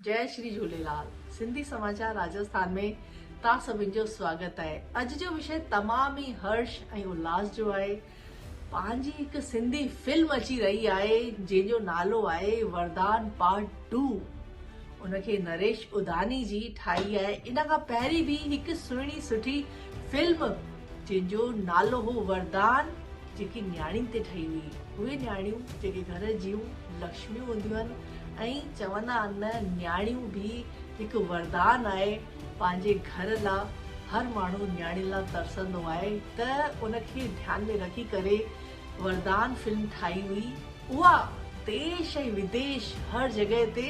جئي شري جهوليلال سنڌي سماچار راجسٿان ۾ توهان سڀن جو سواگت آهي اڄ جو وشي تمام ئي هرش ۽ الاس جو آهي پنهنجي هڪ سنڌي فلم اچي رهي آهي جنهن جو نالو آهي وردان پارٽ ٽو ان کي نريش اداني جي ٺاهي آهي ان کان پهرين به هڪ سهڻي سٺي فلم جنهن جو نالو هو وردان، جيڪي نياڻين تي ٺهي هئي. اهي نياڻيون جيڪي گهر جيون لڪشميون هونديون آهن ۽ چوندا آهن نه نياڻيون به هڪ وردان آهي پنهنجي گهر لا هر ماڻهو نياڻين لا ترسندو آهي ته ان کي ڌيان ۾ رکي ڪري وردان فلم ٺاهي هئي اها ديش ۽ وديش هر جڳهه تي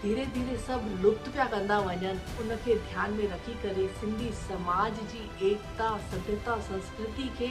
ڌيري ڌيري سڀ لپت پيا ڪندا وڃن ان کي ڌيان ۾ رکي ڪري سنڌي سماج جي ايڪتا سڌرتا سنسڪرتي کي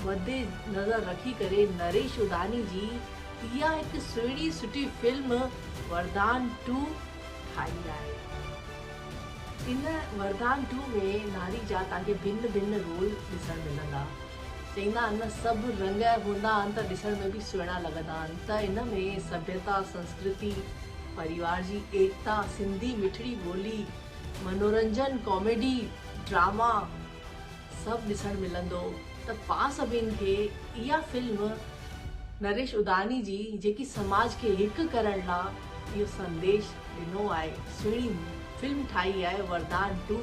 مد نظر رکي ڪري نريش اڌاني جي اها هڪ سهڻي سٺي فلم وردان ٽو ٺاهي آهي ان وردان ٽو ۾ ناري جا تان کي ڀن ڀن رول ڏسڻ ملندا. چئيندا آهن نه سڀ رنگ هوندا آهن ته ڏسڻ ۾ به سهڻا لڳندا آهن ته ان ۾ سڀيتا، سنسڪرتي، پريوار جي ايڪتا، سنڌي مٺڙي ٻولي، منورنجن، ڪاميڊي، ڊراما سڀ ڏسڻ ملندو ته پان سڀين کي اها فلم نريش اڌاني جي جيڪي سماج کي هڪ ڪرڻ لا اهو سنديش ڏنو آهي سهڻي فلم ٺاهي آهي وردان ٽو.